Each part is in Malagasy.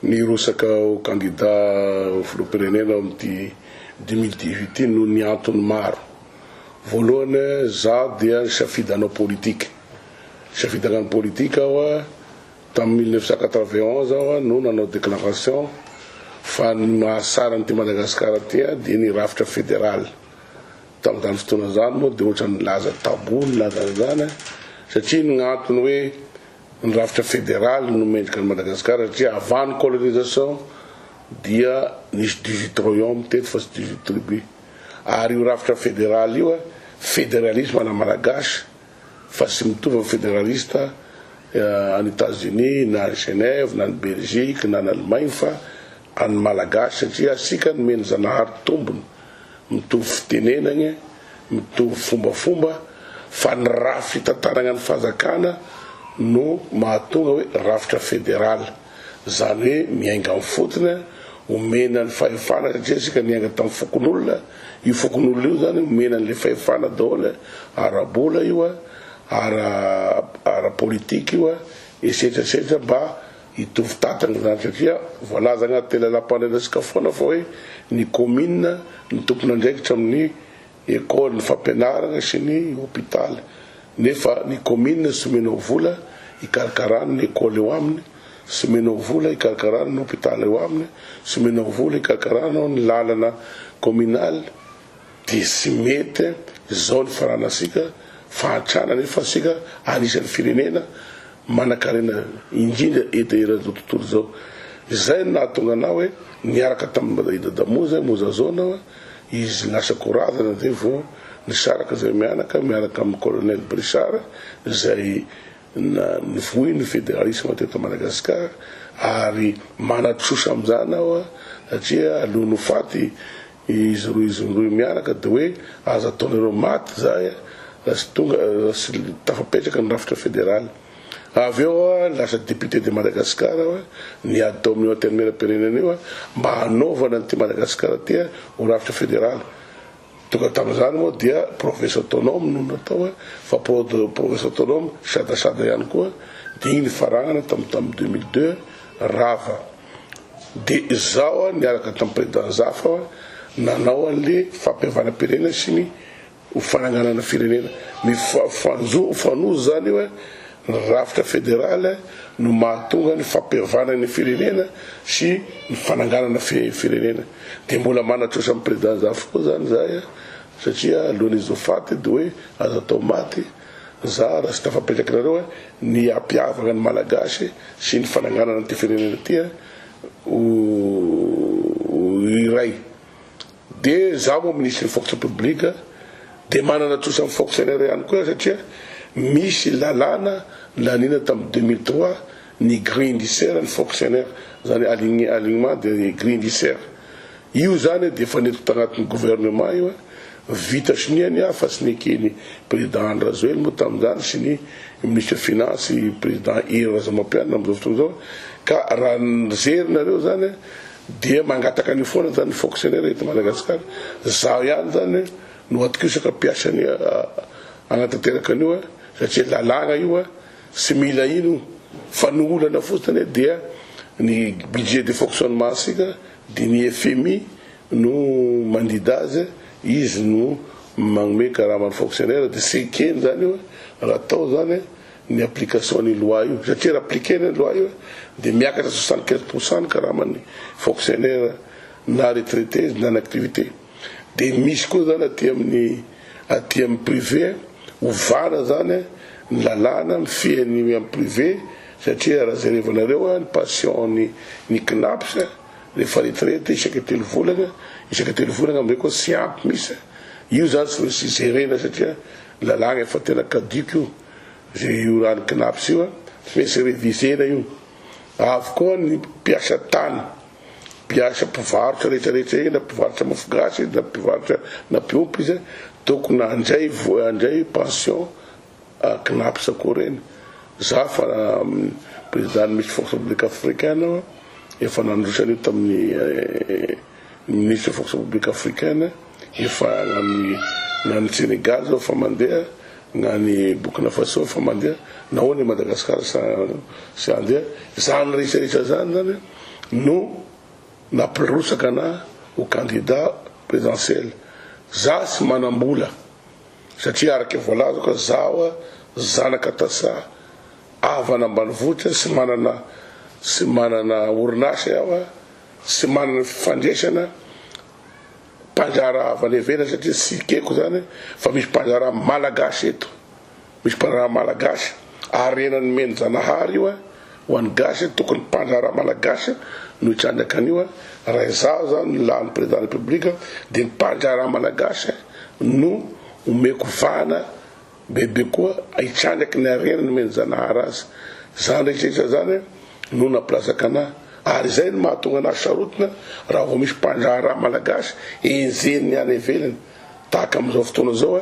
Nirotsaka ho kandida ho filoham-pirenena ao amin'ity deux mille dix-huit ity noho ny antony maro. Voalohany, izaho dia nisafidy hanao politika. Nisafidy hagnano politika aho Tamin'ny mille neuf cent quatre-vingt-onze aho no nanao déclaration fa ny mahasara an'ity Madagasikara ity dia ny rafitra fédéral. Tamin'izany fotoana izany moa dia ohatran'ny nilaza tabou ny nilaza an'izany satria ny antony hoe ny rafitra fédéral no mendrika an'i Madagasikara satria avant ny colonisation dia nisy dix-huit royaumes teto fa tsy dix-huit tribus. Ary io rafitra fédéral io, fédéralisme à la malagasy, fa tsy mitovy amin'ny federalista any Etazonia na any Genève na any Belgique na any Allemagne fa an'ny Malagasy satria asika nomen'i Zanahary tombony mitovy fitenenagna, mitovy fombafomba fa ny raha fitantaragna ny fanjakana no mahatonga hoe rafitra federal. Izany hoe miainga amin'ny fotony, omena ny fahefana satria isika niainga tamin'ny fokonolona, io fokonolona io izany omena an'ilay fahefana daholo, ara-bola io, ara-politika io, etsetra etsetra mba hitovy tatana izany satria voalaza anatin'ny lalàmpanorenantsika foana fa hoe ny kaominina no tompon'andraikitra amin'ny école, ny fampianarana sy ny hôpital nefa ny commune tsy omenao vola hikarakarana ny école eo aminy, tsy omenao vola hikarakarana ny hôpital eo aminy, tsy omenao vola hikarakarana ny lalana communal dia tsy mety izao ny fanarantsika fahantrana nefa isika anisany firenena manakarena indrindra eto eran'izao tontolo izao. Izay no nahatonga anah hoe niaraka tamin'i Dadamoa zay Mozazoana. Izy lasa goravana dia vao nisaraka izay mianaka miaraka amin'ny Colonel Brissard izay nivoy ny federalisma teto Madagascar ary manatrosa amin'izany aho satria alohan'ny ho faty izy roa izy roy mianaka dia hoe aza ataonareo maty izahay raha tsy tonga raha tsy tafapetraka ny rafitra federaly. Avy eo lasa député de Madagascar aho, niady tao amin'io antenimieram-pirenena io mba hanaovana an'ity Madagasikara ity ho rafitra federaly. Tonga tamin'izany moa dia province autonome no natao fa province autonome sadasada ihany koa dia iny nifaranana tamin'ny tamin'ny deux mille deux rava. Dia izaho niaraka tamin'ny président Zafa nanao an'ilay fampihavanam-pirenena sy ny Ho fananganana firenena mifanojo izany io e, ny rafitra federaly no mahatonga ny fampihavana ny firenena sy ny fananganana firenena dia mbola manatrosa ny président zafy koa izany izahay a, satria alohan'izy ho faty dia hoe aza atao maty za raha tsy tafapetraka nareo a, ny hampihavana ny malagasy sy ny fananganana ity firenena ity a ho iray. dia za moa ministry ny fonction publique dia manana trosa ny fonctionnaire ihany koa satria misy lalàna naniana tamin'ny deux mille trois ny grille indiciaire ny fonctionnaire zany align alignement de grille indiciaire io zany dia efa nentiko tagnatin'ny gouvernement io vita soniany aho fa tsy neken'ny président Andry Rajoelina moa tamin'izany sy ny ministre finance président Hery Razamampianina amin'izao fotoana izao ka raha nijery nareo zany Dia mangataka an'io foana zany ny fonctionnaire eto Madagasikara. Zaho ihany zany no atokisaka mpiasa ny hanatanteraka an'io satria lalàna io tsy mila ino fa ny olana fotsiny dia ny budget de fonctionnement sika dia ny FMI no mandidy azy izy no magnome karama ny fonctionnaire dia tsy ekeny zany io raha atao zany ny application ny loi io satria raha appliquer ny loi io dia miakatra soixante quinze pour cent ny karaman'ny fonctionnaire na retraité na ny activité dia misy koa zany aty amin'ny aty amin'ny privé ovana zany ny lalàna mifihan'ny amin'ny privé satria raha jerevanareo ny passion ny ny knaps rehefa retraite isaka telo volana isaka telo volana amizay koa tsy ampy misy io zany tsy misy jerena satria lalàna efa tena caduc io Ve io rano cnaps io fmesy revisena io avokoa ny mpiasa tany mpiasa mpivarotra rehetra rehetra eny na mpivarotra mofo gasy izy na mpivarotra na mpiompy izy tokony handray voa handray pension ah, cnaps koa reny za fa président misy force publique africaine efa nandrosa an'io tamin'ny eh, Ny Minisitry ny Fonction Publique Africaine efa nanohy na any Senegal zao efa mandeha, na any Burkina Faso efa mandeha, nahoana i Madagascar tsy tsy handeha? Izany rehetra rehetra izany zany no nampirosaka anah ho candidat présidentiel. Zah tsy manam-bola satria araka voalazako fa zaho zanaka tasa havana ambanivohitra tsy manana tsy manana orinasa aho. Tsy manana fifandraisana mpandraharaha avy any ivelany satria tsy ekeko izany fa misy mpandraharaha malagasy eto. Misy mpandraharaha malagasy, harena nomen'i Zanahary io ho an'ny gasy, tokony mpandraharaha malagasy no hitrandraka an'io. Raha izaho izany no lanin'ny Président de la République dia ny mpandraharaha malagasy no omeko vahana. Bebe koa hitsanaky ny harena nomen'i Zanahary azy. Izany rehetrarehetra izany no nampilazaka anah. Ary izay no mahatonga anah sarotiny raha vao misy mpandraharaha malagasy enjehin'ny any ivelany. Tahaka amin'izao fotoana izao,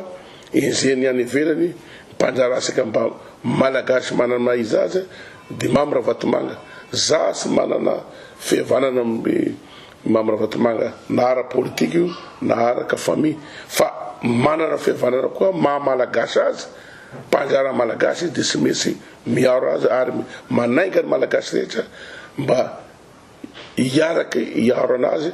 enjehin'ny any ivelany mpandraharaha saika mba malagasy manana ny maha izy azy, Dimamy Ravatomanga. Zah sy manana fihavanana amin'ny Mamy Ravatomanga na ara politika io na araka famille fa manana fihavanana koa maha malagasy azy mba anjara malagasy izy dia tsy metsy miaro azy ary manainga ny malagasy rehetra mba hiaraka hiaro anazy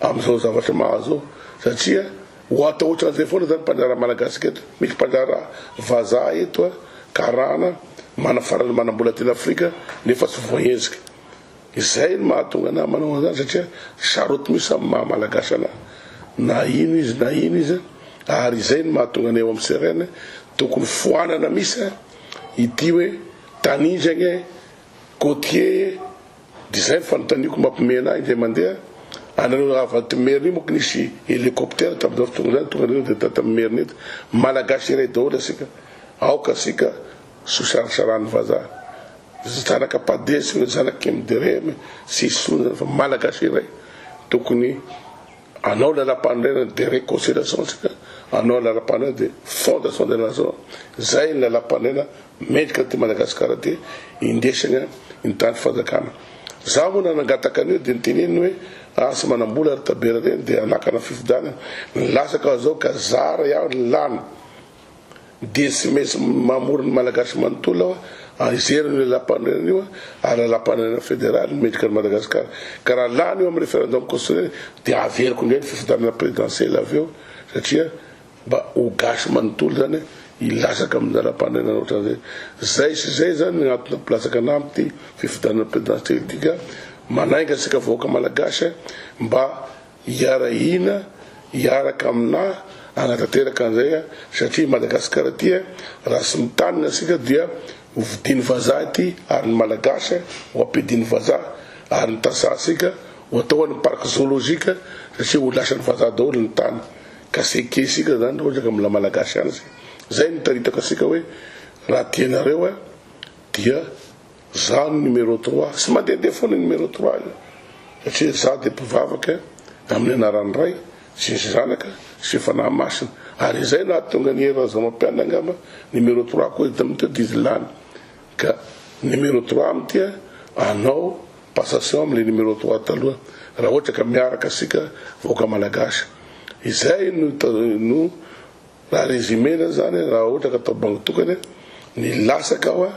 amizao zavatra mahazo zao satria ho atao otranzay foana zany mpanjaraha malagasy ka eto misy mpanjaraha vazaha eto karana manafarana manambola teny afrika nefa tsy voahezika Izay no mahatonga anah manao an'izany satria charotte mihitsy amin'ny maha malagasy anah na ino izy na ino izy ary izay no mahatonga anay ao amin'ny CRN tokony foanana mihitsy ity hoe tanindragna e, côtier e, dia izay no fanontaniako mampiomehy anah indray mandeha, anareo avy aty Merina io manko nisy hélicoptère tamin'izao fotoana izany tonga nareo dia tata amin'ny Merina eto, malagasy iray daholo asika, aoka asika Sosarasaran'ny vazaha. Zanaka Pade sy ny zanak'i Mdereme sy i Sona fa Malagasy iray. Tokony hanao lalam-panorenana de reconciliation tsika, hanao lalam-panorenana de fondation de nation. Zay ny lalam-panorenana mendrika an'ity Madagasikara ty indesagna ny tany fanjakana. Za moa nanangataka an'io de noteneniny hoe ah tsy manam-bola ry Tabera reny de hanakana fifidianana. Nilatsaka zao ka zara ihany ny lany. Dia tsy maintsy mamory ny Malagasy manontolo aho an, hijeriny io Lalampanorenana io an, ary Lalampanorenana Federaly no mendrika an'i Madagasikara. Ka raha lany eo amin'ny Referendum Constitutionnel dia averiko indray ny fifidianana Présidentiel avy eo, satria mba ho Gasy manontolo zany hilatsaka amin'ny Lalampanorenana ohatran'izay. Zay sy zay zany ny antony nampilatsaka anah amin'ity fifidianana Présidentiel ity ka manainga antsika vahoaka Malagasy mba Hiarahina hiaraka aminà hanatanteraka an'izay satria Madagasikara ity raha tsy mitanina isika dia ho vidian'ny vazaha ity ary ny Malagasy ho ampidian'ny vazaha ary ny tantsahantsika ho atao any parc zoologique satria ho lasan'ny vazaha daholo ny tany ka c'est que isika zany raha ohatra ka mbola Malagasy ihany zay zay no itaritako antsika hoe raha tianareo dia Za no numéro trois, tsy mandehandeha foana io numéro trois io, satria za dia mpivavaka amin'ny anaran'ny Ray sy ny Zanaka sy ny Fanahy Masina, ary izay nahatonga an'i Hery Razamampianina angamba numéro trois koa eto amin'ity didy lany, ka numéro trois amiko dia anao passation amin'ilay numéro trois taloha, raha ohatra ka miaraka isika vahoaka Malagasy. Izay no no Na résumé na zany raha ohatra ka tao banky tokana ny lasak ao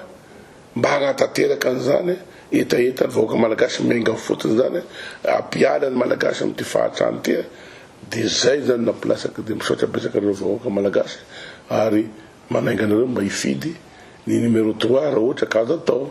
mba hanatanteraka an zany hetaheta ny vahoaka malagasy miainga fotony zany ampiala ny malagasy am ty fahatrany ty de zay zany no ampilasak de misaotra betsaka anareo vahoaka malagasy ary manainga anareo mba hifidy ny numéro trois raha ohatra ka azo atao.